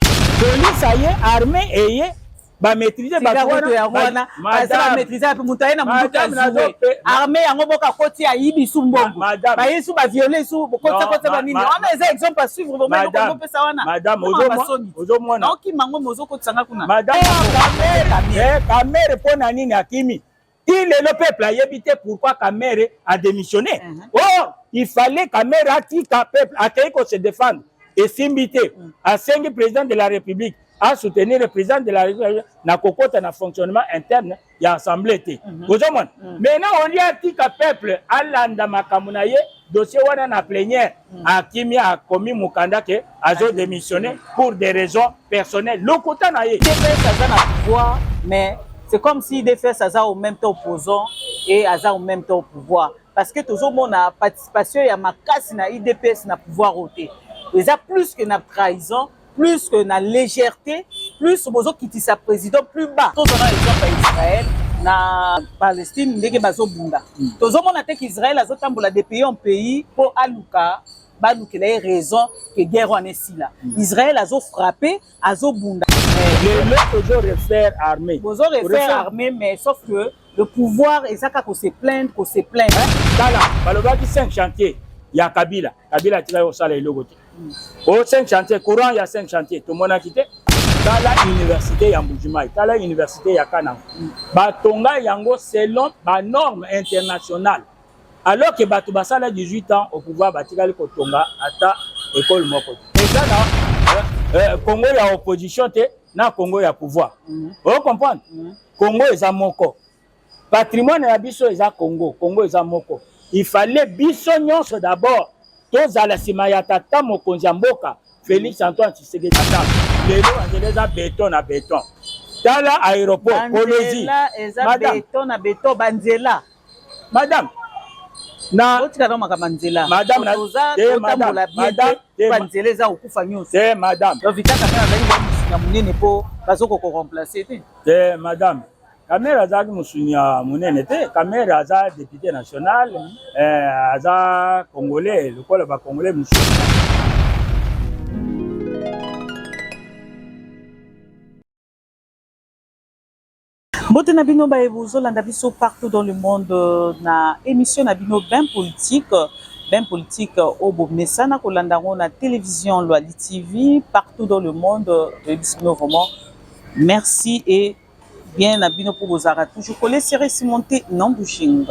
Police aye, armée eye, ba maîtriser ba wana ya wana baza ba maîtriser pe mutu aye na mutu kazuwe armée yango boka koti ya yibi su mbongo ba yesu ba violer su bokotsa kotsa ba nini wana eza exemple à suivre vraiment ndoko ko pesa wana madame ozo mona na oki mango mozo kotsa nga kuna madame kamere eh, kamere pona nini akimi ti lelo peuple ayebi te pourquoi kamere a démissionné uh mhm. -huh. or il fallait kamere atika peuple akei ko se défendre esimbi te mhm. asengi président de la république asoutenir le président de la république na kokota na fonctionnement interne ya assemblée te mhm. ozomona maintenant olie atika peuple alanda makambo na ye dossier wana na plenière mm. akimi akomi mokanda ke azo démissionner pour des raisons personnelles lokuta na ye dps aza na pouvoir mais c'est comme si dps aza au même temps opposant et aza au même temps au pouvoir parce que tozomona participation ya makasi na idps na pouvoir oyo te eza plus que na trahison plus que na légèreté plus bozokitisa président plus bas tozwa na exemple ya israel na palestine ndenge bazobunda mm. tozomona te qu'israel azotambola de pays en pays mpo aluka balukela ye raison ke guerre wana esila mm. israel azofrappe azobunda lelo tozo refaire armée bozo refaire armée mais sauf que le pouvoir ezaka ko se plaindre ko se plaindre tala balobaki cinq chantier ya kabila kabila atika yo osala eloko te o 5 chantier courant ya 5 chantier tomonaki te tala université ya mbujimai tala université ya kananga batonga yango selon banorme internationale alors que bato basala 18 ans au pouvoir batikali kotonga ata ekole moko te eza na euh, euh, congo ya opposition te na congo ya pouvoir mm -hmm. o comprendre mm -hmm. congo eza moko Patrimoine na biso eza Congo, Congo eza moko. Il fallait biso nyonso d'abord tozala nsima ya tata mokonzi ya mboka Felix Antoine Tshisekedi. Tata lelo nzela eza beton na beton. Tala aéroport Kolozi. Eza beton na beton banzela. Madame na botika na makambo nzela madame na toza eh, kotambola bien te eh, ba nzela eza kokufa nyonso te eh, madame to vitaka na azali ba musika munene po bazo ko remplacer te te madame Kamere azalaki mosuni ya monene te. Kamere aza depute national, eh, aza congolais lokola ba congolais mosusu. mbote na bino baye bozolanda biso partout dans le monde euh, na émission na bino bain politique bain politique euh, oyo bomesana kolanda yango na télévision loali tv partout dans le monde toyebisi euh, bino vraiment merci et bien na bino mpo bozalaka toujours kole sere simonte non bushing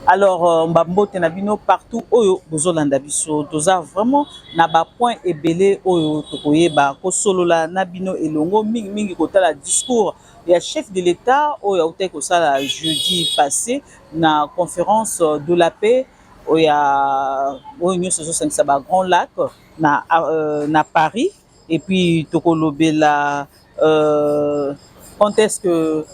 alors euh, mbambote na bino partout oyo bozolanda biso toza vraiment na bapoint ebele oyo tokoyeba kosolola na bino elongo mingimingi kotala discours ya chef de l'état oyo autaki kosala jeudi passé na conférence de la paix oyo nyonso ezosangisa ba grand lac na, euh, na paris et puis tokolobela euh, quand est-ce que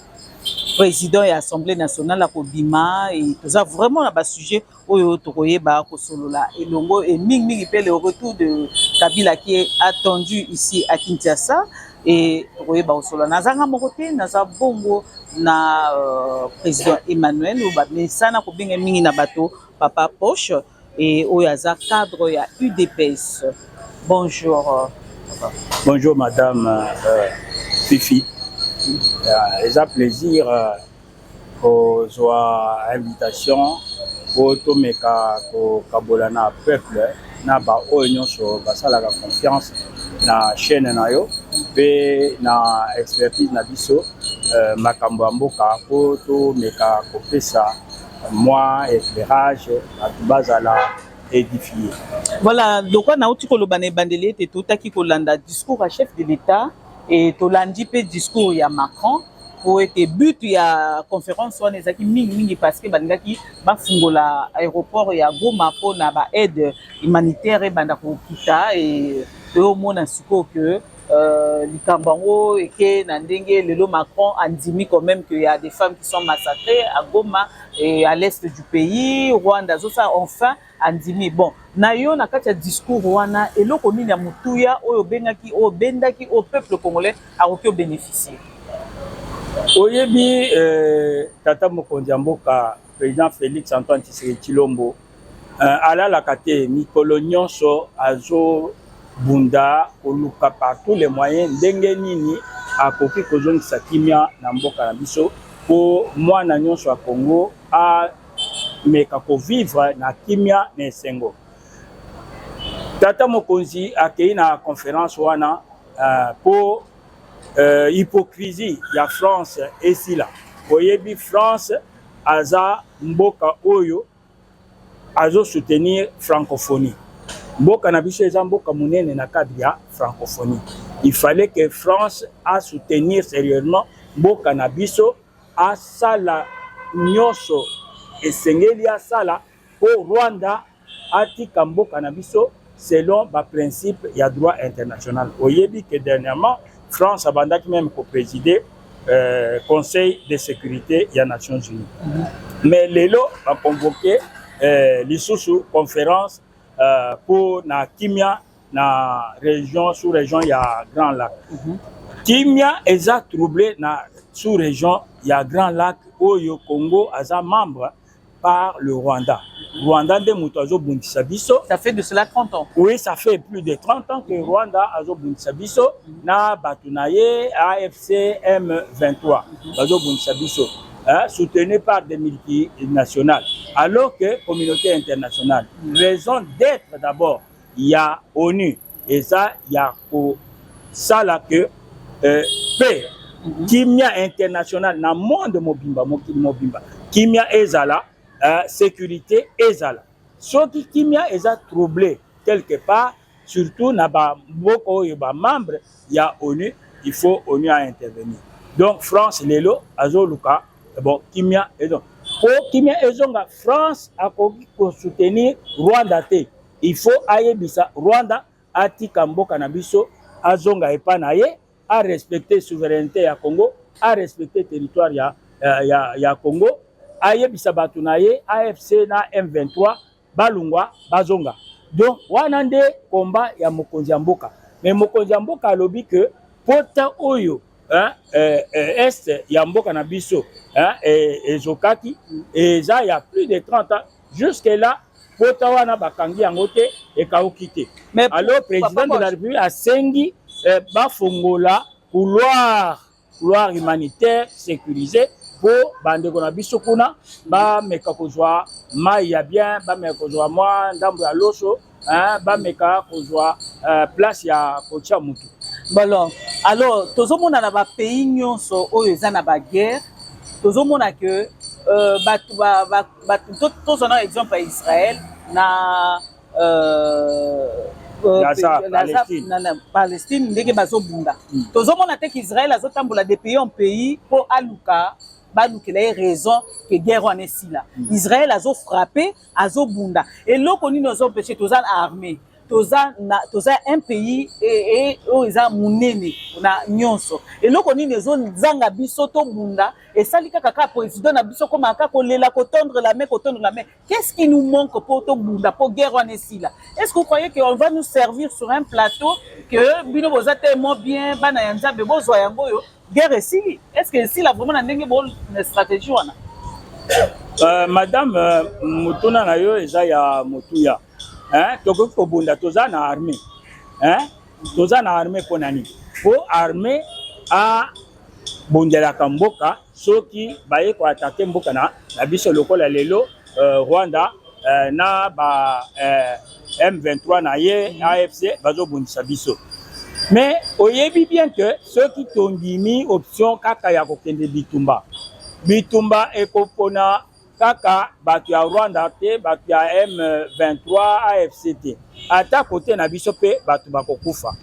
président ya assemblée nationale akobima et toza vraiment na basujet oyo tokoyeba kosolola elongo et mingimingi mpe le retour de kabila qui est attendu ici à kinshasa et tokoyeba kosolola nazanga moko te naza bongo na euh, président emmanuel oyo bamesana kobenga mingi na bato papa poche Et oyo aza cadre ya UDPS. Bonjour. Bonjour madame euh, Fifi. Euh, eza plaisir euh, kozwa invitation mpo tomeka kokabola na peuple na baoyo nyonso basalaka confiance na chaîne na yo mpe na expertise na biso euh, makambo ya mboka mpo tomeka kopesa mwa éclairage bato bazala édifie voilà lokwa nauti koloba na ebandeli ete totaki kolanda discours ya chef de l'état e tolandi mpe discours ya macron mpo ete but ya conférence wana ezalaki mingimingi parce que balingaki bafungola aéroport ya goma mpo na baaide humanitaire ebanda kokita e toyomona sikoyo ke Euh, likambo yango eke na ndenge lelo macron andimi quand même que ya des femmes qui sont massacrées à goma et à l'est du pays rwanda azosala enfin andimi bon na yo na kati ya discours wana eloko nini ya motuya oyo obengaki oyo obendaki oyo peuple congolais akoki obénéficie oyebi euh, tata mokonzi ya mboka président félix antoine tshisekedi tshilombo Euh, alalaka te mikolo nyonso azobunda koluka par tous les moyens ndenge nini akoki kozongisa kimia na mboka na biso mpo mwana nyonso ya Congo ameka kovivre na kimia na esengo. Tata mokonzi akei na conference wana euh, mpo uh, uh, hypocrisie ya France esila. Oyebi France aza mboka oyo azo soutenir francophonie mboka na biso eza mboka monene na cadre ya francophonie il fallait que france a soutenir sérieusement mboka na biso asala nyonso esengeli asala mpo rwanda atika mboka na biso selon ba principe ya droit international oyebi que dernièrement France abandaki meme ko présider euh, conseil de sécurité ya Nations Unies mm -hmm. mais lelo ba convoquer euh, lisusu conférence euh, pour na kimia na région sous région ya Grand Lac mm -hmm. kimia eza troublé na sous région ya Grand Lac oyo Congo aza membre par le Rwanda. Rwanda nde moto azobundisa biso. Ça fait de cela 30 ans. Oui, ça fait plus de 30 ans que mm -hmm. Rwanda azobundisa biso mm -hmm. na bato na ye AFC M23 mm -hmm. bazobundisa biso hein, soutenu par des multinationales alors que communauté internationale. Mm -hmm. Raison d'être d'abord ya onu eza ya kosala ke euh, pe mhm. kimia international na monde mobimba mokili mobimba kimia ezala euh, sécurité ezala soki kimia eza trouble quelque part surtout na bamboka oyo bamembre ya onu il faut onu a intervenir donc france lelo azoluka eh bon kimia ezo po kimia ezonga france akoki kosoutenir rwanda te il faut ayebisa rwanda atika mboka na biso azonga epa na ye a respecter souveraineté ya congo a respecter territoire ya, ya, ya, ya congo ayebisa bato na ye afc na m23 balungwa bazonga donc wana nde komba ya mokonzi ya mboka me mokonzi ya mboka alobi ke pota oyo hein, eh, eh, est ya mboka na biso hein, eh, ezokaki eza ya plus de 30 ans jusque là pota wana bakangi yango te ekauki te alors président de la république asengi eh, bafongola couloir couloir humanitaire sécurisé mpo bandeko na biso kuna bameka kozwa mai ya bien bameka kozwa mwa ndambo ya loso bameka kozwa eh, place ya kotya motu bolo alors tozomona na bapays nyonso oyo eza na baguerre tozomona ke euh, bato tozwa na exemple ya israel na euh, euh, Gaza, Pe- Palestine. na, na palestine ndenge bazobunda Mm. tozomona te qu'israel azotambola de pays en pays mpo aluka balukela ye raison ke guerre wana esila israel azofrappe azobunda eloko nini ozompeshe toza na armée toza na toza un pays e- e- oyo eza monene na nyonso eloko nini ezozanga biso tobunda esali kaka kaka président na biso komaka kolela kotondre la main kotondre la main Qu'est-ce qui nous manque pour tout bunda pour guerre en esila Est-ce que vous croyez qu'on va nous servir sur un plateau que bino boza tellement bien bana ya nzambe bozwa yango oyo guerre esili Est-ce que esila vraiment na ndenge bo na stratégie wana euh, madame euh, motuna na yo eza ya motuya hein? tokoki kobunda toza na armée hein? toza na armée mpo na nini mpo armée abondelaka mboka soki baye ko attaquer mboka na, na biso lokola lelo euh, Rwanda euh, na ba euh, M23 na ye AFC bazobundisa biso mais oyebi bien que soki tondimi option kaka ya kokende bitumba bitumba ekopona kaka bato ya rwanda te bato ya m23 afc te ata kote na biso mpe bato bakokufa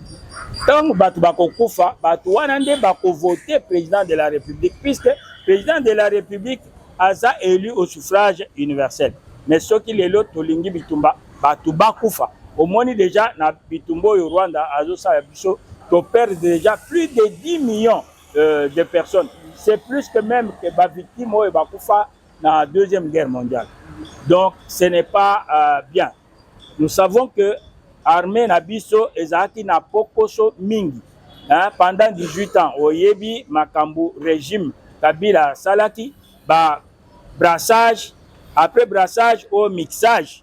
ntango bato bakokufa bato wana nde bakovote président de la république puisque président de la république aza élu au suffrage universel mais soki lelo tolingi bitumba bato bakufa omoni deja na bitumba oyo rwanda azosala biso toperdre deja plus de 10 millions euh, de personnes c'est plus que même que ba victimes oyo bakufa na deuxième guerre mondiale donc ce n'est pas euh, bien nous savons que armée na biso ezalaki na pokoso mingi hein, pendant 18 ans oyebi makambo régime kabila asalaki ba brassage après brassage au mixage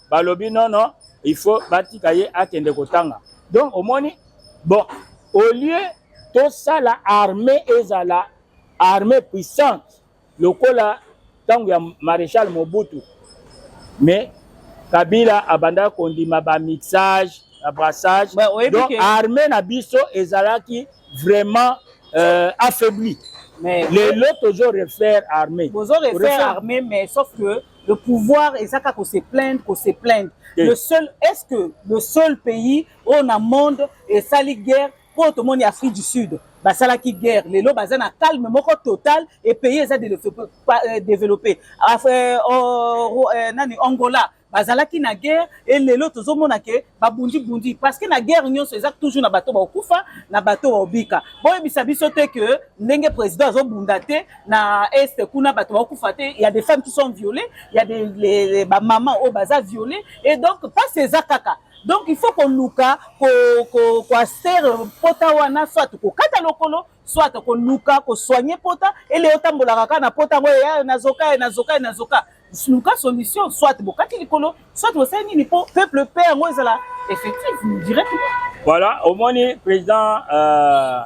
balobi non non il faut batika ye akende kotanga donc omoni bon au lieu tosala armée ezala armée puissante lokola ntango ya maréchal mobutu mais kabila abandaka kondima bamixage na brassage ouais, donc que... armée na biso ezalaki vraiment euh, affaibli lelo tozo refaire armée bozo refaire armée mais sauf que Le pouvoir eza kaka ko se plaindre, ko se plaindre. Le seul est-ce que le seul pays au na monde esali guerre pour tout le monde Afrique du Sud basalaki guerre lelo baza na calme moko total et pays eza développé euh, euh, oh, euh, nani Angola bazalaki na guerre e lelo tozomona ke babundibundi parce que na guerre nyonso eza toujours na bato bakokufa na bato baobika boyebisa biso te ke ndenge président azobunda te na est kuna bato bakufa te ya des femmes qui sont violées ya des bamama oyo baza violées et donc mpasi eza kaka donc il faut koluka koastere ko, ko pota wana soit kokata lokolo soit koluka kosoigne pota ele otambolaka kaka na pota yango eya nazoka ye nazoka ye nazoka luka solution soit bokati likolo soit bosali nini mpo peuple pe yango ezala effectif directement voilà omoni président euh,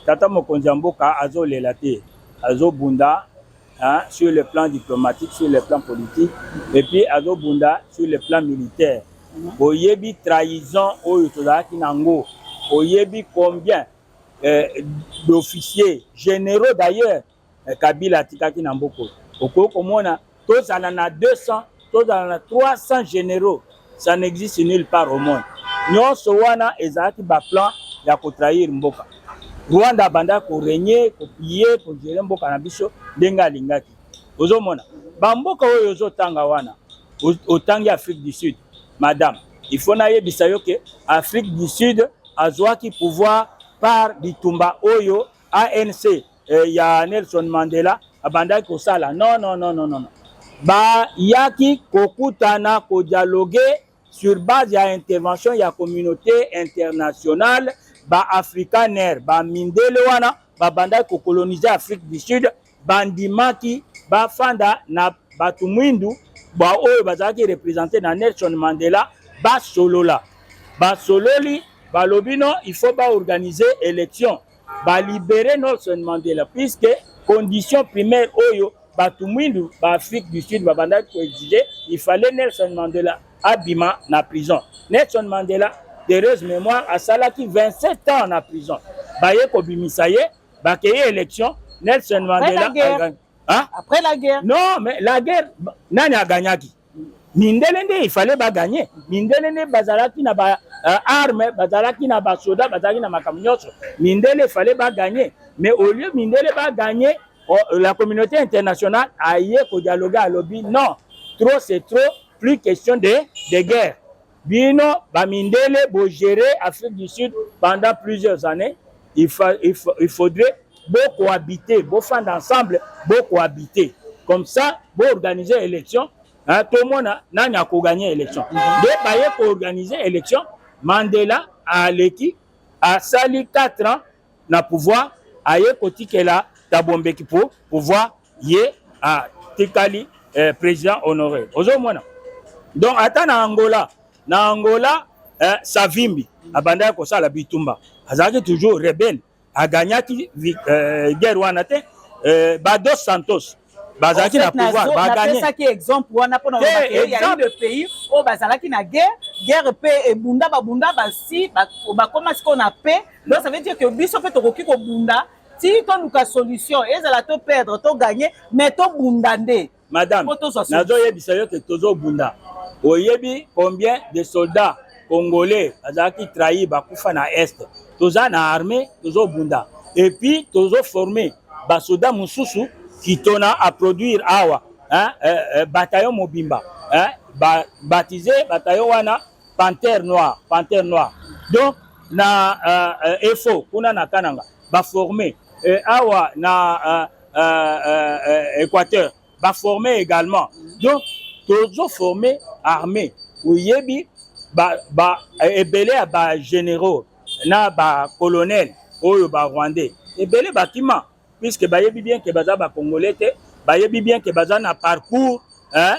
tata mokonzi ya mboka azolela te azobunda hein, sur le plan diplomatique sur le plan politique et puis azobunda sur le plan militaire mhm. oyebi trahison oyo tozalaki na yango oyebi combien euh, d'officiers généraux d'ailleurs eh, kabila atikaki na mboka oyo okoki komona tozala na 200 tozala na 300 généraux ça n'existe nulle part au monde nyonso wana ezalaki baplan ya kotrahir mboka rwanda abandaki koregne koplie kogere mboka na biso ndenge alingaki ozomona bamboka oyo ozotanga wana otangi afrique du sud madame il faut nayebisa yo ke afrique du sud azwaki pouvoir par bitumba oyo ANC eh, ya Nelson Mandela abandaki kosala non non non non non bayaki kokutana kodialogue sur base ya intervention ya communauté internationale ba africaner ba mindele wana babandaki kokolonise afrique du sud bandimaki bafanda na bato mwindu baoyo bazalaki represente na Nelson Mandela basolola. Basololi balobi no il faut baorganize election balibere Nelson Mandela puisque condition primaire oyo bato mwindu ba Afrique du Sud babandaki koexige il fallait Nelson Mandela abima na prison. Nelson Mandela d'heureuse mémoire asalaki 27 ans na prison baye kobimisa ye Bakei election, Nelson Mandela agagn... Hein? Après la guerre. Non, mais la guerre, nani a gagnaki mindele nde il fallait baganye mindele nde bazalaki na ba uh, arme bazalaki na basoda bazalaki na makambo nyonso mindele fallait baganye mais au lieu mindele baganye oh, la communauté internationale aye kodialogue alobi non trop c'est trop plus question de, de guerre Bino ba mindele bo gérer Afrique du Sud pendant plusieurs années, il, fa, il, fa, il faudrait bo cohabiter, bo fanda ensemble, bo cohabiter. Comme ça, bo organiser élection, hein, tout le monde nani ako gagner élection. Nde baye ko organiser élection, Mandela aleki asali 4 ans na pouvoir aye kotikela Thabo Mbeki po pouvoir ye atikali eh, president honore ozomona donc ata na angola na angola eh, savimbi abandaki kosala bitumba azalaki toujours rebelle aganyaki eh, guerre wana te eh, bados santos bazalaki na pouvoir bagagneapesaki exemple wana mpona ya de pays oyo bazalaki na guerre guerre mpe ebunda babunda basi bakoma sikoyo na paix donc ça veut dire que biso mpe tokoki kobunda ti toluka solution ezala to perdre to gagne mais tobunda nde madame nazoyebisa yo ke tozobunda oyebi combien de soldats congolais bazalaki trahi bakufa na est toza na armée tozobunda epuis tozoforme basoda mosusu kitona aproduire awa hein, eh, eh, bataillon mobimba hein, ba, baptise bataillon wana panthère noire panthère noire donc na uh, eh, uh, efo kuna na kananga baforme eh, awa na uh, uh, uh, uh, équateur ba former également donc tozo former armée oyebi ba ba ebele ya ba généraux na ba colonel oyo ba rwandais ebele bakima puisque bayebi bien ke baza ba congolais te bayebi bien ke baza na parcours hein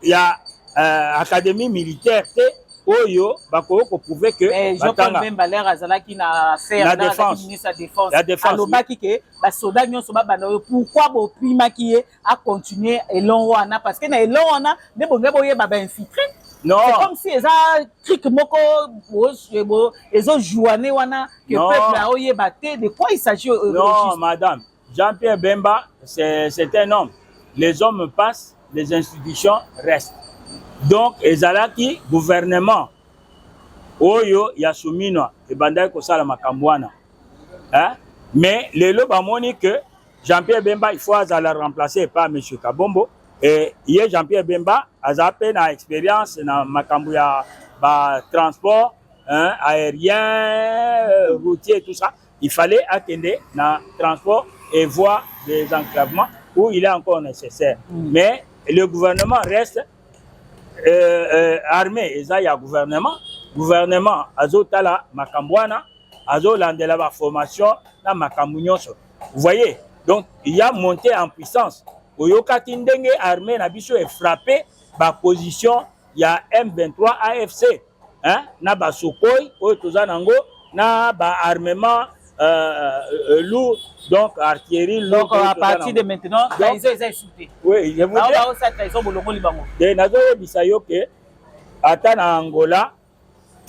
ya uh, académie militaire te oyo bakoki koprouve ke eh, jean-paul bemba lere azalaki na affairministre ya défense alobaki ke basoda nyonso babanda oyo pourkui bopimaki ye acontinue elon wana parce que na elon wana nde bonge boyeba bainfiltre Non. C'est comme si eza trick moko ezo jouane wana que peuple a oyeba te de quoi il s'agit. Non, madame. Jean-Pierre Bemba, c'est un homme. Les hommes passent, les institutions restent. Donc, ezalaki gouvernement oyo ya Suminwa ebandaki kosala makambo wana. Hein? Mais lelo bamoni que Jean-Pierre Bemba il faut azala remplacer par monsieur Kabombo et ye Jean-Pierre Bemba aza pe na expérience na makambo ya ba transport hein, aérien, routier tout ça. Il fallait akende na transport et voie des enclavements où il est encore nécessaire. Mm. Mais le gouvernement reste euh, euh, armé eza ya gouvernement. Gouvernement azotala makambo wana, azolandela ba formation na makambo nyonso. Vous voyez? Donc il y a montée en puissance. Oyokaki ndenge armée na biso est frappée ba position ya M23 AFC hein, na basokoi oyo toza nango na baarmement euh, euh, lourd donc artillerie lourd donc à partir de maintenant trahison eza esute oui je vous dis trahison bolongoli bango te nazoyebisa yo ke ata na Angola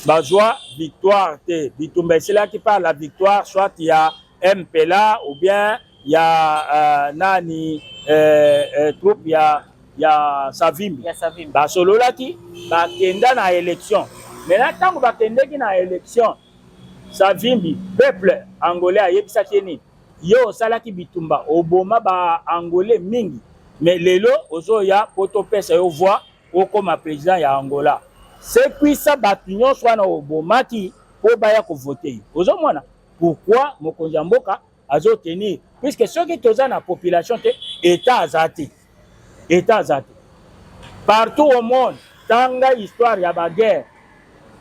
bazwa victoire te bitumba esilaki par la victoire soit ya mpela ou bien ya uh, nani eh, eh, troupe ya ya savimbi basololaki bakenda na élection maintenant ntango bakendeki na élection savimbi peuple angolais ayebisaki ye nini ye osalaki bitumba oboma baangolais mingi me lelo ozoya po topesa yo voi okoma president ya angola sekwisa bato nyonso wana obomaki mpo baya kovote yo ozomona pourkui mokonzi ya mboka azotenir puiske soki toza na population te etat aza te etat aza te partout au monde tanga histoire ya baguerre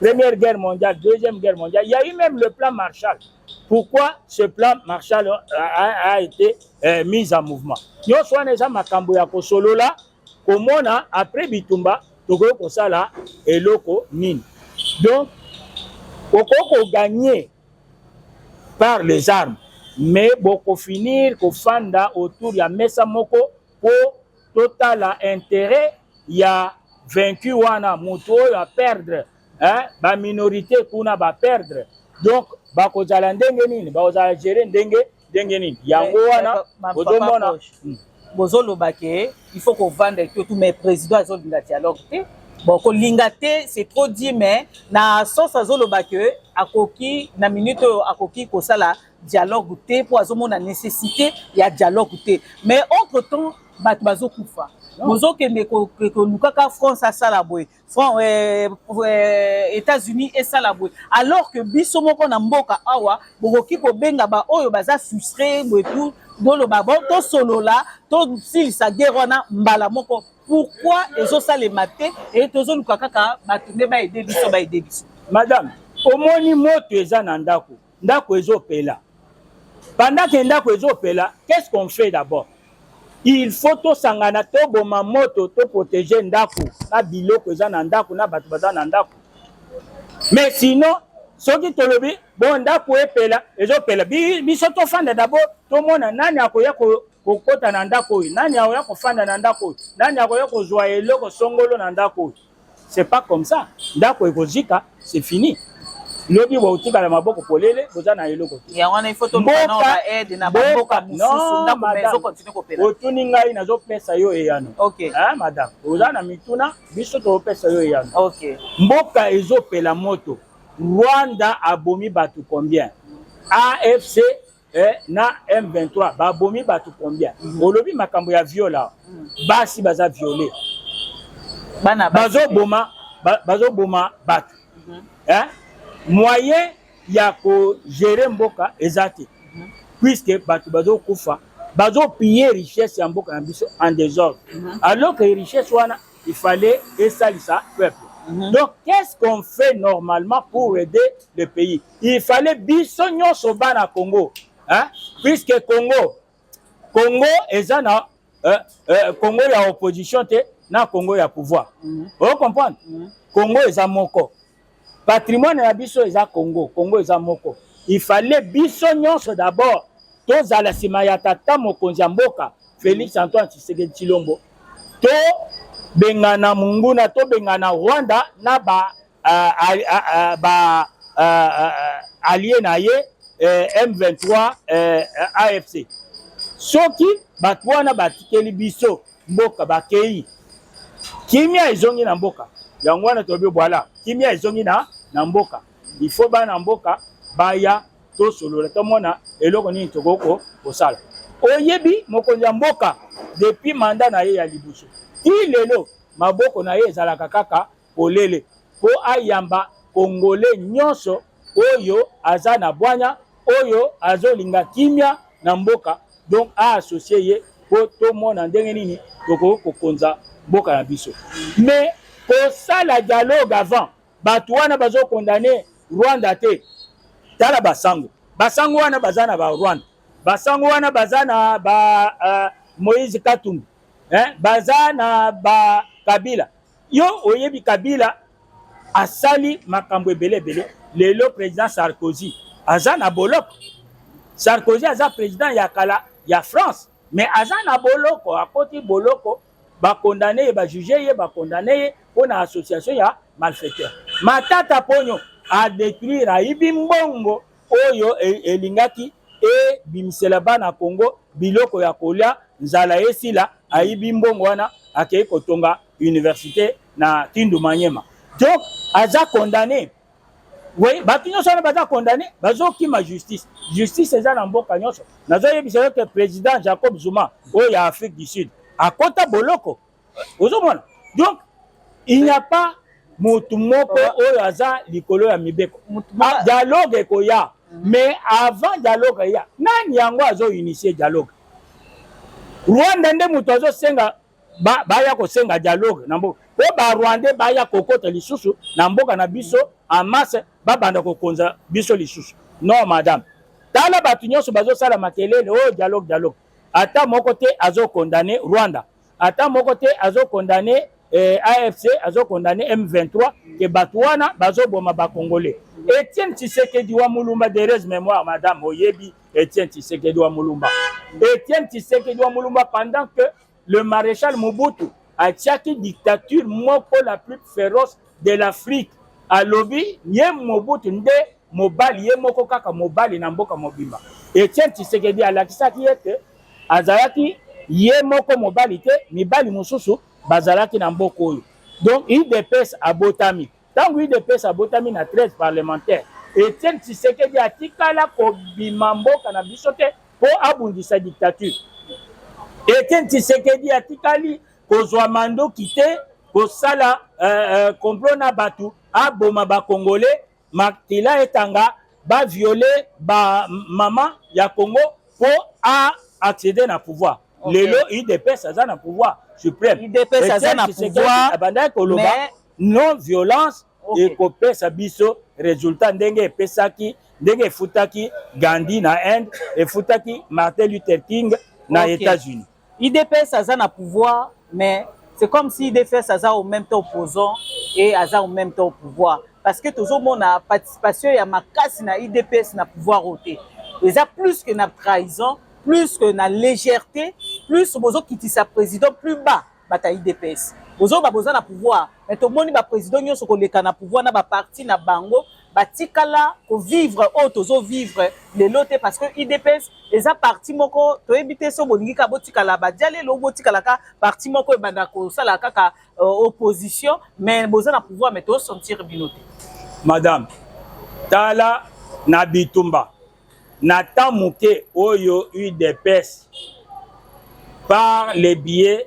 première guerre mondiale deuxième guerre mondiale il y a eu même le plan marshall pourquoi ce plan marshall a, a, a été euh, mis en mouvement nyonso wana eza makambo ya kosolola komona après bitumba tokoki kosala eloko nini donc okoki koganye par les armes mais bokofinir kofanda autour ya mesa moko mpo totala intérêt ya vaincu wana moto oyo aperdre hein? baminorité kuna baperdre donc bakozala ndenge nini bakozala gere ndenge ndenge nini yango wana bozomona hmm. bozoloba ke il faut kovanda to tout mais président azolinga dialogue te bon kolinga te c'est trop dit mais na sens azoloba ke akoki na minute oyo akoki kosala dialogue te mpo azomona nécessité ya dialogue te mais entre temps bato bazokufa bozokende kolukaka france asala boye Front, euh, euh, États-Unis esala boye alors que biso moko na mboka awa bokoki kobenga baoyo baza frustre boye tout boloba bo tosolola tosilisa guerre wana mbala moko pourquoi ezosalema te e tozoluka kaka bato nde baede biso baede biso madame omoni moto eza na ndako ndako ezopela pendant que ndako ezopela qu'est-ce qu'on fait d'abord il faut tosangana toboma moto toprotege ndako na biloko eza na ndako na bato baza na ndako mais sinon soki tolobi bo ndako epela ezopela biso tofanda dabord tomona nani akoya kokota na ndako oyo nani akoya kofanda na ndako oyo nani akoya kozwa eloko songolo na ndako oyo C'est pas comme ça. Ndako ekozika, c'est fini. lobi bokotikala maboko polele boza na eloko te otuni ngai nazopesa yo eyano okay. eh, madame oza na mituna biso tokopesa yo eyano okay. mboka ezopela moto rwanda abomi bato combien afc eh, na M23 babomi bato combien mm -hmm. olobi makambo ya viol awa mm -hmm. basi baza viole bana bazoboma bazoboma bato mm -hmm. eh? moyen ya kogere mboka eza te mm -hmm. puiske bato bazokufa bazopiye richesse ya mboka na biso en desordre mm -hmm. alors que richesse wana il fallait esalisa peuple mm -hmm. donc qu'est ce qu'on fait normalement pour aider le pays il fallait biso nyonso bana congo hein? puisque congo congo eza na euh, euh, congo ya opposition te na congo ya pouvoir mm -hmm. oyo comprendre mm -hmm. congo eza moko patrimoine na biso eza congo congo eza moko il fallait biso nyonso d'abord tozala nsima ya tata mokonzi ya mboka félix antoine tshisekedi tshilombo tobengana monguna tobengana rwanda na ba ba allié na ye eh, M23 eh, AFC soki bato wana batikeli biso mboka bakei kimia ezongi na mboka yango wana tolobi bwala kimia ezongi na, na mboka ifo bana mboka baya tosolola tomona eloko nini tokoki kosala oyebi mokonzi ya mboka depuis manda na ye ya liboso ti lelo maboko na ye ezalaka kaka polele mpo ayamba Congolais nyonso oyo aza na bwanya, oyo azolinga kimia na mboka, donc a associer ye mpo tomona ndenge nini tokoki kokonza mboka na biso. Mais kosala dialogue avant bato wana bazo condamne Rwanda te, tala basango basango wana baza na ba Rwanda, basango wana baza na ba uh, Moïse Katumbi eh, baza na ba Kabila Yo oyebi Kabila asali makambo ebele ebele. Lelo president Sarkozy aza na boloko. Sarkozy aza president ya kala ya France, mais aza na boloko, akoti boloko, ba condamner ye, ba juger ye, ba condamner ye mpo na association ya malfaiteur. Matata Ponyo a detruire, ayibi mbongo oyo elingaki ebimisela bana Congo biloko ya kolia nzala esila ayibi mbongo wana akei kotonga universite na Kindu Manyema donc aza condamne Oui, bato nyonso wana baza condamne bazokima justice justice eza na mboka nyonso nazoyebisa yo ke président jacob zuma oyo ya afrique du sud akota boloko ozomona donc il n'y a pas motu moko oyo aza likolo ya mibeko ah, dialogue ekoya mhm. mais avant dialogue eya nani yango azoinitie dialogue rwanda nde moto azosenga baya kosenga dialogue na mboka po barwandais baya kokota lisusu na mboka na biso en masse babanda kokonza biso lisusu non madame tala bato nyonso bazosala makelele oyo oh, dialogue dialogue ata moko te azokondane rwanda ata moko te azo condamne eh, afc azo condamne m23 ke bato wana bazoboma bacongolais etienne tshisekedi wa mulumba dereuse mémoire madame oyebi etienne tshisekedi wa mulumba etienne tshisekedi wa mulumba pendant que le maréchal mobutu atiaki dictature moko la plus féroce de l'afrique alobi ye mobutu nde mobali ye moko kaka mobali na mboka mobimba etienne tshisekedi alakisaki ete azalaki ye moko mobali te mibali mosusu bazalaki na mboka oyo donc udps abotami ntango udps abotami na 13 parlementaire etienne tshisekedi atikala kobima mboka na biso te mpo abundisa dictature etienne tshisekedi atikali kozwa mandoki te kosala uh, uh, complot na bato aboma bakongole Makila etanga ba viole ba mama ya Congo po a accéder na pouvoir. Okay. Lelo UDPS aza na pouvoir suprême. UDPS aza na pouvoir. Abandaki koloba mais... non violence okay. ekopesa biso resultat ndenge epesaki ndenge efutaki Gandhi na Inde, efutaki Martin Luther King na okay. États-Unis. Idps aza na pouvoir mais c'est comme si idps aza au même temps opposant et aza au même temps au pouvoir parce que tozomona participation ya makasi na idps na pouvoir oyo te eza plus que na trahison plus que na légèreté plus bozokitisa président plus bas bato ya idps bozoba boza na pouvoir mais tomoni baprésident nyonso koleka na pouvoir na baparti na bango batikala ko vivre oyo tozo vivre lelo te parce que udps eza parti moko toyebi te so bolingi kaka botikala badialelo botikalaka parti moko ebanda kosala kaka uh, opposition mais boza na pouvoir mais tosentir bino te madame tala na bitumba na temps moke oyo udps par le biais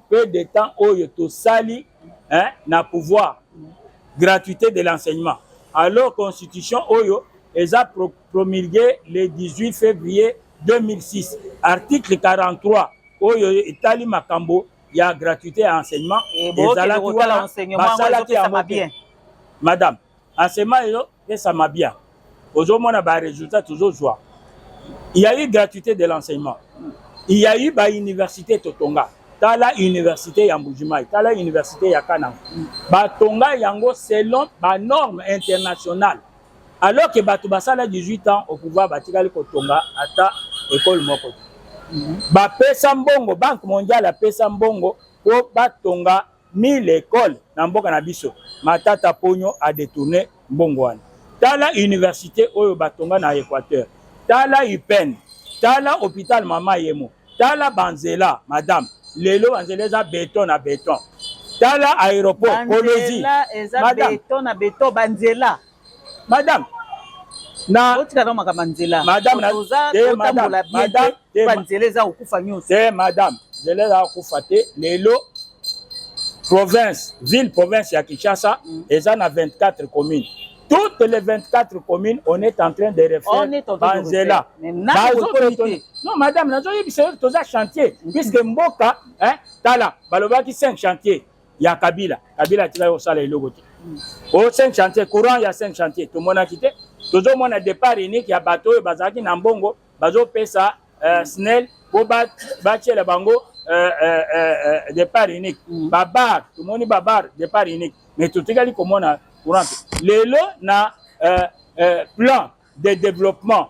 peu de temps oyo tosali hein, na pouvoir gratuité de l'enseignement alors constitution oyo eza pro promulgué le 18 février 2006 article 43 oyo etali makambo ya gratuité ya enseignement ezalaki wana basalaki yango bien madame Enseignement ezo pesa mabia. Ozo mona ba résultats tozo zwa. Il y a eu gratuité de l'enseignement. Il y a eu ba université totonga. Tala université ya Mbujimayi, tala université ya Kananga. Ba tonga yango selon ba normes internationales. Alors que bato basala 18 ans au pouvoir batikali kotonga ata école moko. Bapesa mbongo, Banque mondiale apesa mbongo po batonga ni l'école na mboka na biso matata ponyo a détourner mbongo wana tala université oyo batonga na équateur tala upn tala hôpital mama yemo tala banzela madame lelo banzela eza beton na beton tala aéroport kolozi madame beton na beton banzela madame na otika na makambo ya nzela madame na oza otambola bien te ba nzela eza kokufa nyonso te madame nzela eza kokufa te lelo province ville province ya Kinshasa mm. eza na 24 communes toutes les 24 communes on est en train de refaire banzela non madame nazoyebisa yo toza chantier mm. puisque mboka tala balobaki 5 chantier ya kabila kabila atikaki kosala eloko te mm. o oh, cinq chantier courant ya cinq chantier tomonaki te tozomona départ unique ya bato oyo bazalaki na mbongo bazopesa euh, mm. snel mpo batyela bango euh, euh, départ unique mm. babar tomoni babar départ unique mais totikali komona courant te lelo na plan de développement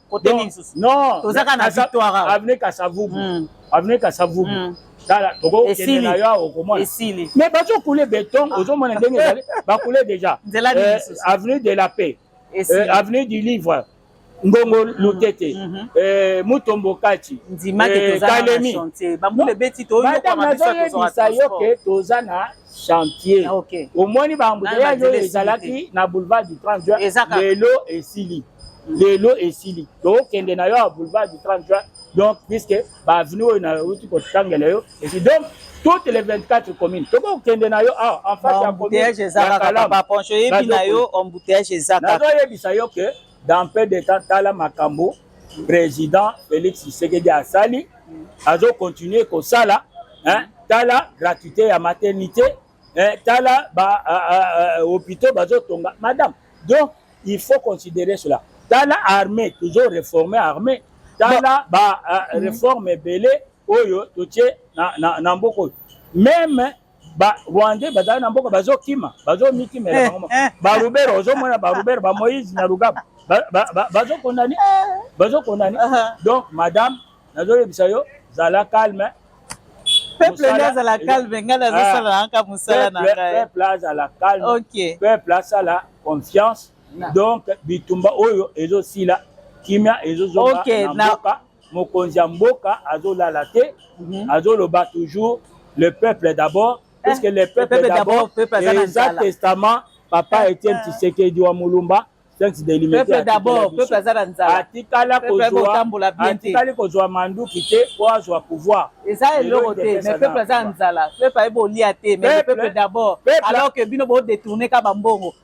Côté nini susu? Non. Tozaka na victoire. Avenue Kasavubu. Hmm. Avenue Kasavubu. Hmm. Tala, toko kende na yo okomona. Esili. Mais bazo couler béton, ah. ozo mona ndenge ezali, ba couler déjà. Nzela nini euh, susu? Avenue de la paix. Euh, avenue du livre. ngongo mm-hmm. lutete mm-hmm. eh, mutombo kati eh, kalemi nazoyebisa yo ke toza na chantier ah, okay. omoni baambuteyaje oyo ezalaki na boulevard du 30 juin lelo esili mm. lelo esili tokende na yo ya boulevard du 30 juin donc puisque baavenue oyo nauti kotangela yo esi donc toutes les 24 communes tokoki kokende na yo awa ah, en face ya communeaponcho eyebi na yo embouteillage eza kaka nazoyebisa yo ke dans peu de temps tala makambo président Félix Tshisekedi asali azo continuer kosala hein tala gratuité ya maternité hein tala ba uh, uh, uh, hôpitaux bazo tonga madame donc il faut considérer cela tala armée toujours réformer armée tala ba uh, réforme ebele oyo totie na, na, na mboka oyo meme ba rwandais bazali na mboka bazokima bazomitimela eh, bango eh. barubere ozomona barubere ba moïse na lugaba bazokondani bazokondani donc madame nazoyebisa yo zala calme peuple nde azala calme ngai nazosala ah. naka mosala na ngai peuple azala calme peuple asala confiance donc bitumba oyo ezosila kimia ezozonga na mboka mokonzi ya mboka azolala te mhm. azoloba toujours le peuple d'abord eh, puisque le peuple d'abord eza testament papa etienne eh. tshisekedi wa mulumba atikali kozwa manduki te po azwa pouvoir eza eloko te mais peuple aza na nzala peuple ayebi olia te mais peuple d'abord alors que bino bo détourne ka bambongo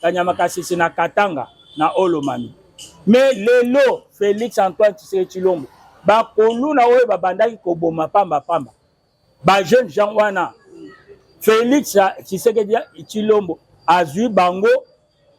kanyama kasese na katanga na olomami mais lelo félix antoine tshisekedi tshilombo bakoluna oyo babandaki koboma pamba pamba bajeune jean wana félix tshisekedi tshilombo azwi bango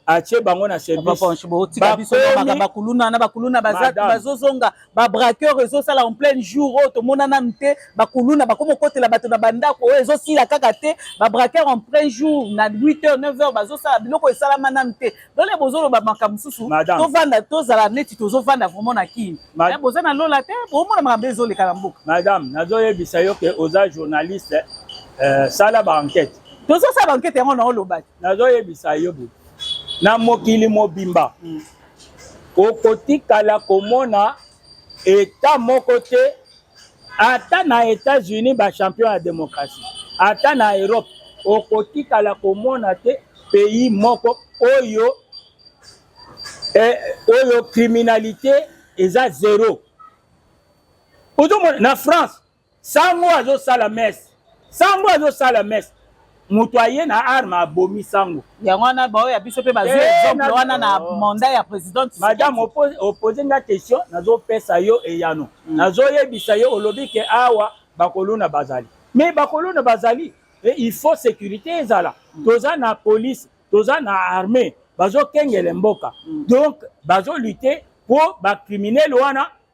atie bango na servicebakuluna na bakuluna bazozonga ba braqueur ezosala en plein jour oyo tomona nanu te bakuluna bakoma okotela bato na bandako oyo ezosila kaka te ba braqueur en plein jour na 8 heures 9 heures bazosala biloko esalama nanu te dole bozoloba makambo mosusu tovanda tozala neti tozovanda vraiment na kini eh, boza na lola te bomona makambo ezoleka na mboka madame nazoyebisa yo ke oza journaliste euh, sala ba enquête tozosala ba enquête yango naolobaki nazoyebisa yo bo na mokili mobimba mm. Okotikala komona eta moko te ata na Etats-Unis ba champion ya demokrasi, ata na Europe okotikala komona te pays moko oyo eh, oyo criminalité eza zero. Ozo na France Sango azo sala messe. Sango azo sala messe. moto aye na arme abomi sango yango wana baoyo ya biso mpe bazwi eh, exemple wana na oh. manda ya president madame opose nga question nazopesa yo eyano hmm. nazoyebisa yo olobi ke awa bakolona bazali me bakolona bazali eh, il faut sécurité ezala hmm. toza na police toza na armée bazokengele mboka hmm. donc bazolute mpo bacriminele wana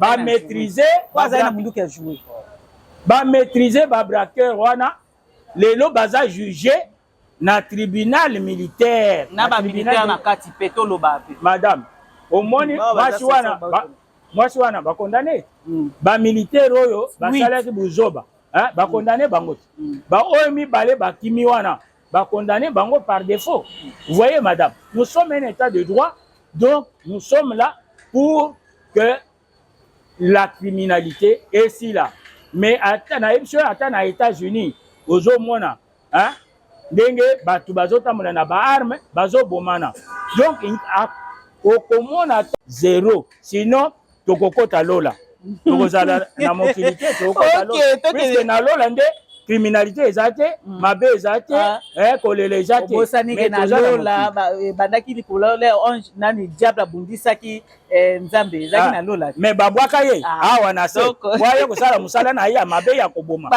ba maîtriser po azali na munduki ya joue ba maîtriser ba braqueur wana lelo baza juge na tribunal militaire na ba militaire na kati pe toloba pe madame omoni mwasi wana mwasi wana bakondane mm. bamilitaire oyo basalaki buzoba bakondane bango te baoyo mibale bakimi wana ba condamner bango par défaut vous voyez madame nous sommes un état de droit donc nous sommes là pour que la criminalité esila mais ata nayebi soki ata na états-unis ozomona hein? ndenge bato bazotambola na baarme bazobomana donc okomona zero sinon tokokota lola tokozala na mokili te tokokota lola na lola nde criminalité eza te mm. mabe eza te ah. eh, kolela eza te obosanike na lola ebandaki eh, likolo le ange nani diable abundisaki eh, nzambe ezalaki ah. na lola mais babwaka ye ah. awa na se bwaye kosala mosala na ye ya mabe ya koboma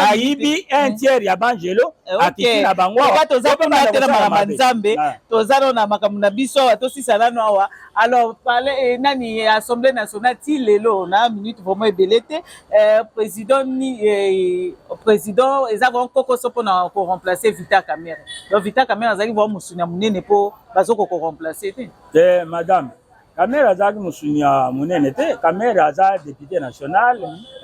ayibi un mm. tiers ya bangelo akiti na bango awa toza kuna te na makambo ya nzambe toza nano na makambo na biso awa tosisa nano awa alors pale eh, nani eh, assemblée nationale ti lelo na minute vraiment ebele te eh, président ni eh, président eza vraiment kokoso mpona koremplace vita camere donc vita camere azalaki vraiment mosuni ya monene mpo bazoko koremplace te te madame kamere azalaki mosuni ya monene te kamere aza député national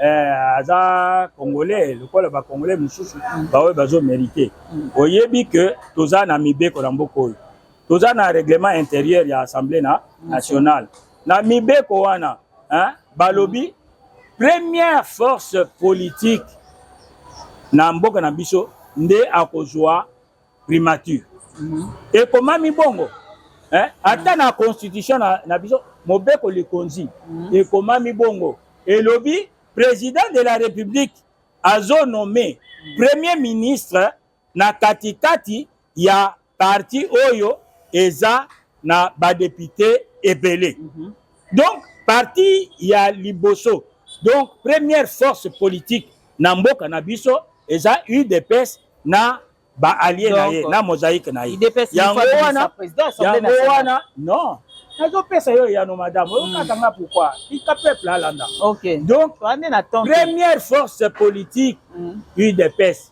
eh, aza congolais lokola bacongolais mosusu baoyo bazo mérite mm. oyebi ke toza na mibeko na mboka oyo toza na règlement intérieur ya assemblée na nationale na mibeko wana hein, balobi première force politique na mboka na biso nde akozwa primature mhm. ekomami bongo hein? ata na constitution na, na biso mobeko likonzi mhm. ekomami bongo elobi président de la république azonome premier ministre na katikati ya parti oyo eza na ba depute ebele mm -hmm. donc parti ya liboso donc première force politique na mboka na biso eza udps na ba alliés na ye na mosaïque na ye yango wana yango wana non nazopesa yo eyano madame oyokaka hmm. nga pourkoi tika peuple alanda donc première force politique hmm. udps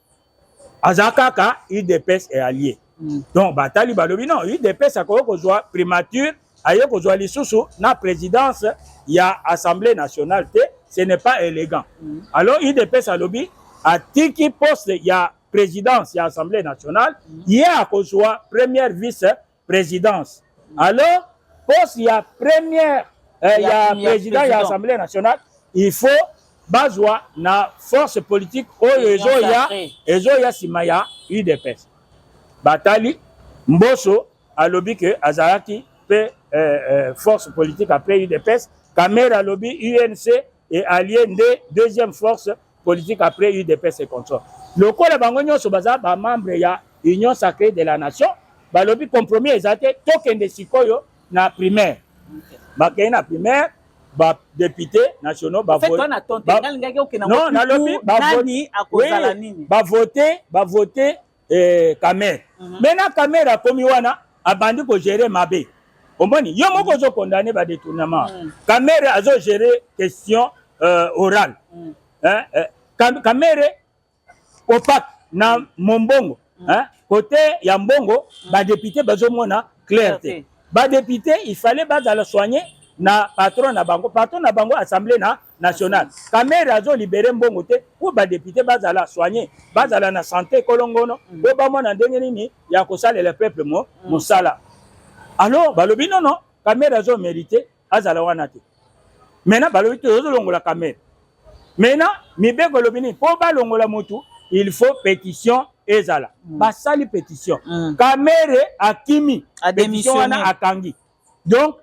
aza kaka udps e allié mm. donc batali balobi non udps akoki kozwa primature aye kozwa lisusu na présidence ya assemblée nationale te ce n'est pas élégant mm. alors udps alobi atiki poste ya présidence ya assemblée nationale mm. ye akozwa première vice presidence alors poste ya première eh, ya président ya assemblée nationale il faut bazwa na force politique oyo ezoya ezoya nsima ya udps batali mboso alobi ke azalaki mpe eh, eh, force politique ape udps kamere alobi unc et allié nde deuxième force politique après udps et contrôle lokola bango nyonso baza bamembre ya union sacrée de la nation balobi compromis eza te tokende sikoyo na primaire bakei na primaire badepute nationaux bavote bavote eh, kamere mm -hmm. mena kamere akomi wana abandi kogere mabe omoni yo moko ozo condamne ba détournement mm. kamere azo gere question euh, orale mm. eh, eh, kam, kamere opaque na mm. mombongo mm. eh, kote ya mbongo mm. badepute bazomona claire te badepute il fallait bazala soigne na patron na bango patron na bango assemble na national kamere azo libere mbongo te mpo badepute bazala soigne bazala na sante kolongono mpo mm. bamona ndenge nini ya kosalela peuple mo mm. mosala alors balobi nono kamere azo merite azala wana te mena balobi tozolongola kamere mena mibeko elobi nini mpo balongola motu il faut pétition ezala mm. basali pétition kamere akimi pétition wana akangi donc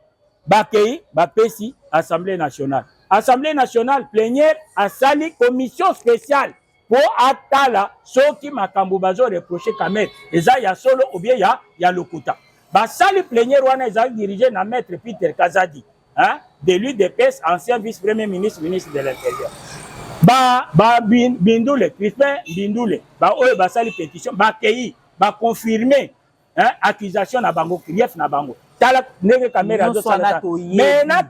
bakei bapesi assemblée nationale assemblée nationale plenière asali commission spéciale mpo atala soki makambo bazo reproche kamere eza ya solo obie ya, ya lokuta basali plenière wana ezali dirige na maître peter kazadi hein, de lui de pes ancien vice premier ministre ministre de l'intérieur ba, ba bindule crispin bindule baoyo basali pétition bakei baconfirme hein, accusation na bango grief na bango tala ndenge kamere azosala me na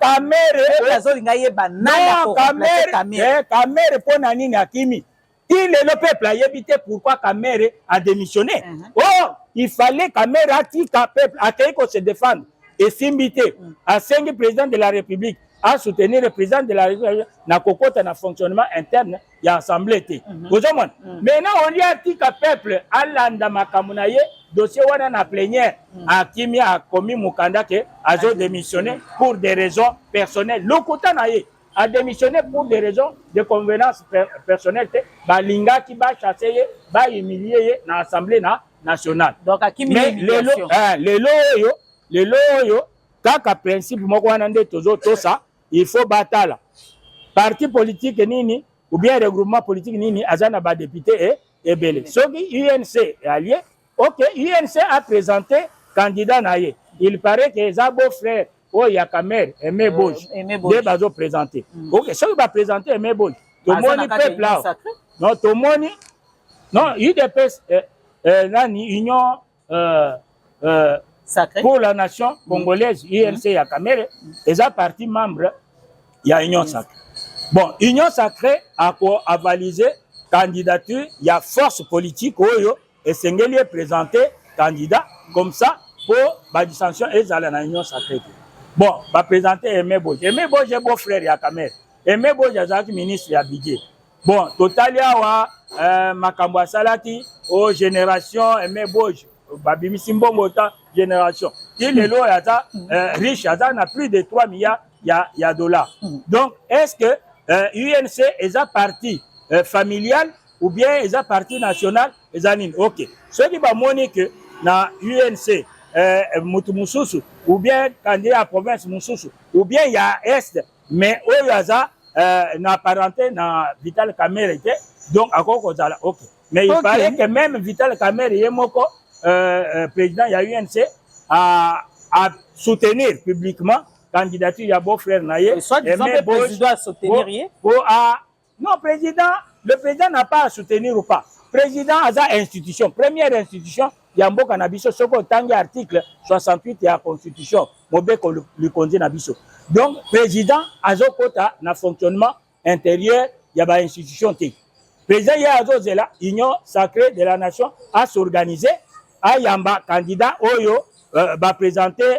kamerekamere mpo na nini akimi ti lelo peuple ayebi te pourquoi kamere adémissionne uh mhm. -huh. or il fallait kamere atika peuple akei ko se défendre esimbi te mm. asengi président de la république asoutenir le président de la république na kokota na fonctionnement interne ya assemble te mhm. ozomona mhm. mais na olie atika peuple alanda makambo na ye dossier wana na plenière mhm. akimi akomi mokanda ke azo démissionner pour des raisons personnelles lokuta na ye a démissionné pour des raisons de convenance per personnelle te balingaki bachasse ye bahumilie ye na assemblée na nationale donc akimi mais lelo eh, lelo oyo lelo oyo kaka principe moko wana nde tozotosa il faut batala parti politique nini ou bien regroupement politique nini aza na ba député e ebele soki UNC est allié OK UNC a présenté candidat na ye il paraît que eza beau frère oyo ya Kamerhe Aimé Boji nde bazo présenter mm. OK soki ba présenter Aimé Boji tomoni peuple awa non tomoni non UDPS eh, eh, nani union euh, euh, Sacré. pour la nation mm. congolaise mm. UNC ya Kamere mm. eza parti membre ya Union mm. Sacrée. Bon, Union Sacrée a ko avaliser candidature ya force politique oyo esengeli e présenter candidat comme ça pour ba dissension ezala na Union Sacrée. Bon, ba présenter Aimé Boje. Aimé Boje beau frère ya Kamere. Aimé Boje azalaki ministre ya budget. bon totali awa eh, makambo asalaki o oh, génération aime boge babimisi mbongo ta génération ti lelo oyo aza eh, riche aza na plus de 3 milliards ya, ya dollar mm. donc est ce que euh, unc eza parti euh, familial ou bien eza parti national eza nini ok soki bamoni ke na unc euh, motu mosusu ou bien candidat ya province mosusu ou bien ya est mais oyo aza euh, na parenté na vital kamere te donc akoki kozala ok mais okay. il paraît que même vital kamere ye moko euh, euh, président ya unc a, a soutenir publiquement candidature ya beau frère na ye euh, soit disant président a soutenir ye po a Non, président, le président n'a pas à soutenir ou pas. Président aza institution, première institution ya mboka na biso soki otangi article 68 ya constitution mobeko likonzi na biso. Donc président azokota na fonctionnement intérieur ya ba institution te. Président ye azozela union sacrée de la nation a s'organiser ayamba candidat oyo euh, ba présenter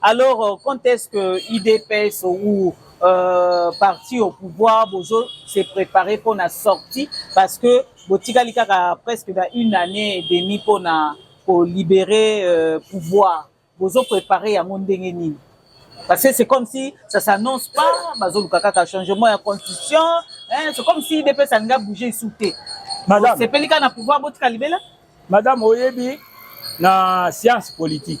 Alors, euh, quand est-ce que IDPS ou euh, parti au pouvoir bozo se préparer pour la sortie parce que botikali kaka presque dans une année et demie pour na pour libérer euh, pouvoir bozo préparer yango ndenge nini parce que c'est comme si ça s'annonce pas bazoluka kaka changement ya constitution hein, c'est comme si IDPS alinga bouger isu te madame sepeli kaka na pouvoir botika libela madame oyebi na science politique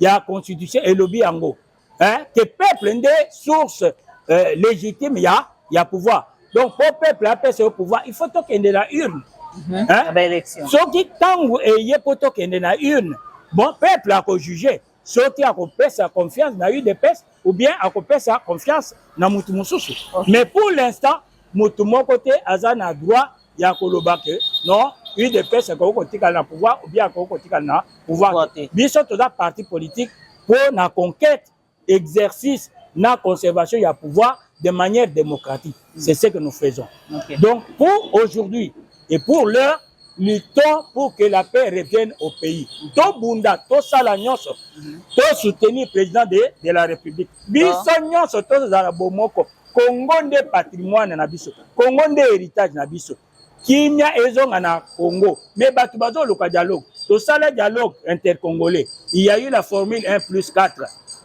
ya constitution elobi yango hein, que peuple nde source euh, légitime ya, ya pouvoir donc mpo peuple apesa yo pouvoir il faut tokende na urne mm -hmm. soki ntango eye mpo tokende na urne bon peuple akojuge soki akopesa confiance na udps ou bien akopesa confiance na motu mosusu okay. mais pour l'instant motu moko te aza na droit ya koloba ke non udps ekoki kotikala na pouvoir ou bien akoki kotikala na pouvoir te biso toza parti politique mpo na conquête exercice na conservation ya pouvoir de manière démocratique mm. c'est ce que nous faisons okay. donc pour aujourd'hui et pour l'heure luttons pour que la paix revienne au pays mm. tobunda tosala nyonso mm-hmm. tosoutenir président de, de la république biso ah. nyonso tozala bomoko Congo nde patrimoine na biso, Congo nde heritage na biso. Kimia ezonga na Congo, mais bato bazoluka dialogue. Tosala dialogue intercongolais, il y a eu la formule 1 plus 4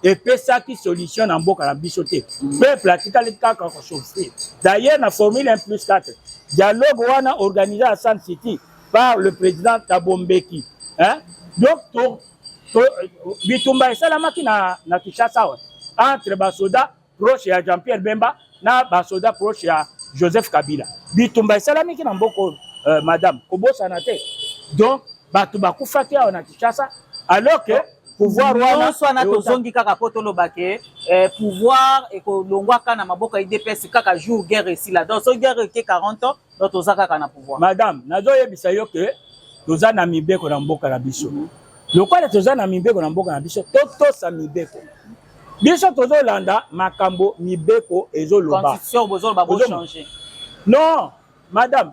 epesaki solution na mboka na biso te. Peuple atikali kaka kosofrir. D'ailleurs na formule 1 plus 4 dialogue wana organisé à Sun City par le président Thabo Mbeki hein? donc to, to, bitumba esalamaki na, na Kinshasa entre basoda proche ya jean pierre bemba na basoda proche ya joseph kabila bitumba esalamiki na mboka oyo euh, madame kobosana te donc bato bakufaki awa na kinshasa alors que pouvoir wana wana tozongi kaka mpo toloba ke eh, pouvoir ekolongwaka na maboko ya idps kaka jour guerre esila donc soki guerre eke 40 ans donc toza kaka na pouvoir madame nazoyebisa yo ke toza na mibeko na mboka na biso mm -hmm. Lokola toza na mibeko na mboka na biso, totosa mibeko. Biso tozolanda makambo mibeko ezoloba. Constitution bozoloba bo changer. Non, madame,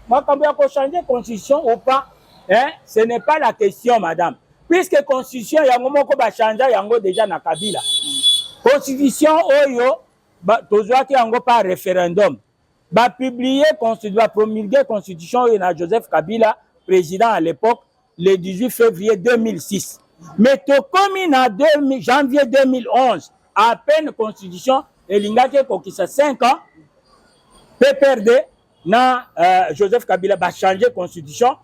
makambo ya ko changer constitution ou pas, hein, ce n'est pas la question, madame. Puisque constitution yango moko ba changer yango déjà na Kabila. Constitution oyo tozwaki yango par référendum. Ba publier constitution, ba promulguer constitution oyo na Joseph Kabila, président à l'époque le 18 février 2006 mais tokomi na janvier 2011 à peine constitution elingaki ekokisa 5 ans pprd na euh, joseph kabila bachange constitution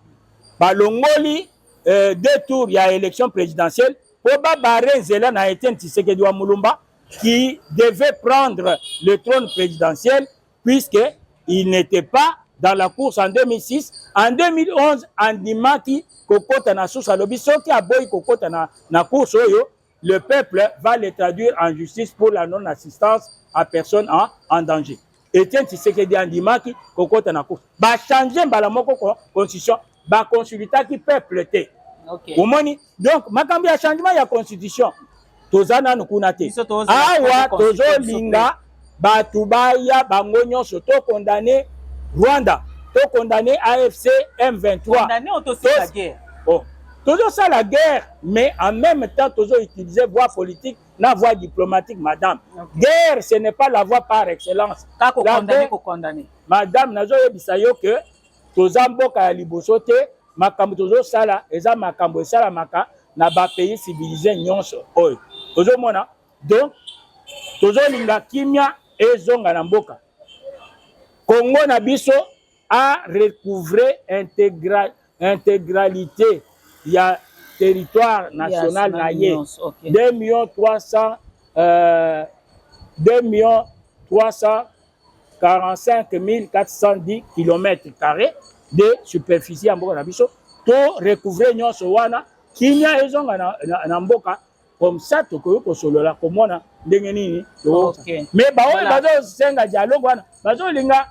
balongoli euh, deux tours ya élection présidentielle mpo babare nzela na etienne tshisekedi wa mulumba qui devait prendre le trône présidentiel puisque il n'était pas dans la course en 2006 en 2011 andimaki kokota na susa alobi soki aboyi kokota na, na course oyo le peuple va le traduire en justice pour la non assistance à personne en, en danger etienne tshisekedi andimaki kokota na course bachange mbala moko constitution ba consultaki peuple te okay. omoni donc makambo ya changement ya constitution toza nanu kuna te awa tozolinga bato baya bango nyonso to condamne rwanda to condamne afc m23 oh. tozosala guerre mais en même temps tozo utiliser voie politique na voie diplomatique madame okay. guerre ce n'est pas la voie par excellence madame nazoyebisa yo que toza mboka ya liboso te makambo tozosala eza makambo esalamaka na bapays civilise nyonso oyo ozomona donc tozolinga kimia ezonga na mboka kongo na biso a recouvre integra, integralité ya territoire national na ye 2 millions 300 euh, 2 millions 300 45410 km carré de superficie ya mboka na biso to recouvre nyonso wana kimia ezonga na, na, na mboka comme ça tokoki kosolola komona ndenge nini okay. mais baoyo bazosenga dialogue wana bazolinga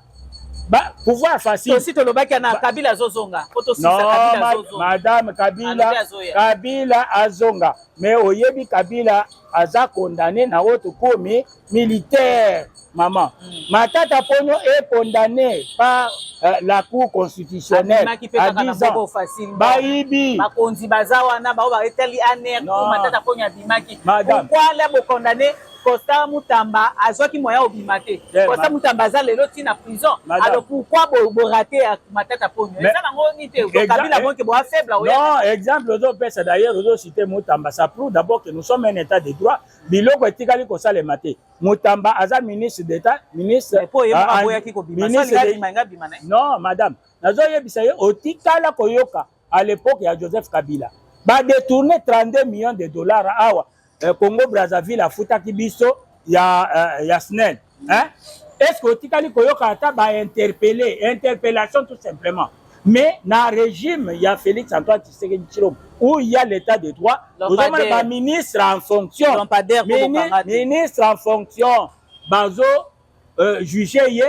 ba pouvoir facile aussi tolobaki na kabila azozonga po tosisa kabila azozonga madame kabila kabila azonga mais oyebi kabila aza condamné na oyo tokomi militaire maman mm. matata pono est condamné par euh, la cour constitutionnelle à 10 ans bayibi bakonzi baza wana bao baetali aner matata pono abimaki pourquoi la bo condamné Costa Mutamba azwaki moyen obima te eh, Costa Mutamba aza lelo ti na prison alors pourquoi borate ya matata ponyo eza nango nini te kabila eh, bonke boa faible non exemple ozopesa d'ailleurs ozocite Mutamba ça prouve d'abord que nous sommes un état de droit biloko etikali kosalema te mutamba aza ministre d'etat ministre non madame nazoyebisa ye otikala koyoka à l'époque ya joseph kabila badetourne 32 millions de dollars awa eh, congo brazzaville afutaki biso ya, eh, ya snel hein est ce que otikali koyoka ata ba interpellé interpellation tout simplement mais na régime ya Félix Antoine Tshisekedi Tshilombo où il y a l'état de droit ozomona ba ministre en fonction ministre en fonction bazo euh, juger ye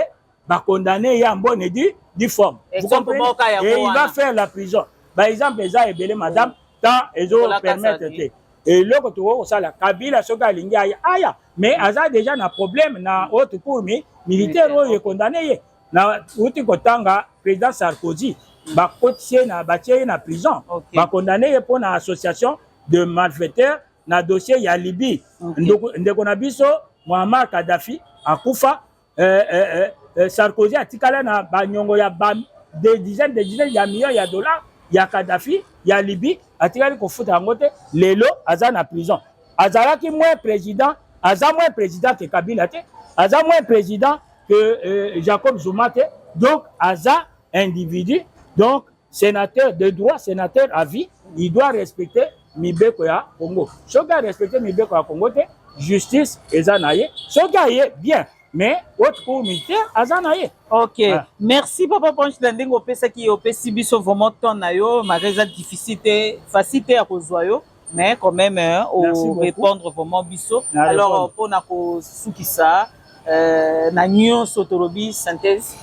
ba condamner ye en bonne et due due forme vous comprenez et il va faire la prison par exemple eza ebele madame temps ezo permettre te eloko tokoki kosala kabila soki alingi aya aya mais mm. aza deja na problème na haute cour mi militaire oyo ekondane ye na uti kotanga président sarkozy mm. bakotisi ye na batie ye na prison okay. bakondane ye mpo na association de malfaiteur na dossier ya libye okay. ndeko, ndeko na biso mohammar kadhafi akufa eh, eh, eh, eh, Sarkozy atikala na banyongo ya ba, des dizaines des dizaines ya millions ya dollars ya Kadhafi ya Libye atikali kofuta yango te lelo aza na prison azalaki moins président aza moins président que Kabila te aza moins président que euh, Jacob Zuma te donc aza individu donc senateur de droit senateur à vie il doit respecter mibeko ya congo soki arespecte mibeko ya congo te justice eza na ye soki aye bien mais haute cour militaire aza na ye ok ah. merci papa panche na ndenge opesaki opesi biso vraiment temps na yo maka eza difficile te facile te ya kozwa yo mais quand même hein, au répondre vraiment biso alors pour na ko sukisa euh, na nyonso tolobi synthèse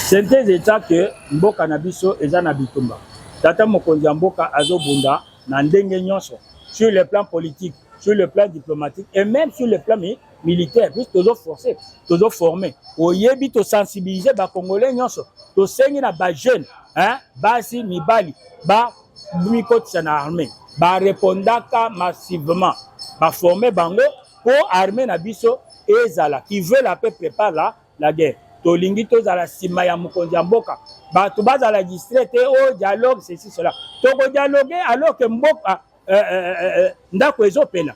synthèse eta que mboka na biso eza na bitumba tata mokonzi ya mboka azobunda na ndenge nyonso sur le plan politique sur le plan diplomatique et même sur le plan militaire puisque tozo forcer tozo former oyebi to sensibiliser ba congolais nyonso tosengi na ba jeunes hein basi mibali ba mikotisa na armée barepondaka massivement baforme bango mpo armée na biso ezala qui veut la paix prépare la, la guerre tolingi tozala nsima ya mokonzi ya mboka bato bazala distre te o oh, dialogue ceci cela tokodialogue alors ke mboka eh, eh, eh, ndako ezopela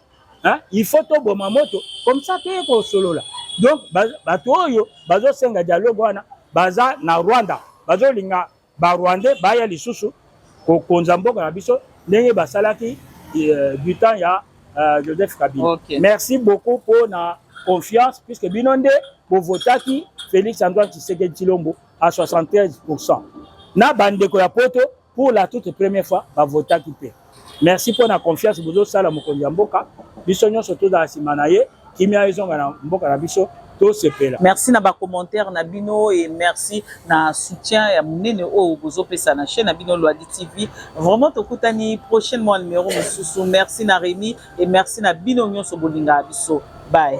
il faut toboma moto comme ça toye kosolola donc bato oyo bazosenga dialogue wana baza na rwanda bazolinga ba rwandais baya lisusu kokonza mboka na biso ndenge basalaki euh, du temps ya euh, joseph kabila okay. merci beaucoup mpo na confiance puisque bino nde bovotaki félix antoine tshisekedi tshilombo à 73 pourcent na bandeko ya poto pour la toute première fois bavotaki mpe Merci mpo na confiance bozosala mokonzi ya mboka biso nyonso tozala nsima na ye kimia ezonga na mboka na biso tosepela merci na bacommentaire na bino e merci na soutien ya monene oyo bozopesa na chaîne na bino lwadi tv vraiment tokutani prochainement ya numero mosusu merci na remi e merci na bino nyonso bolingaka biso baye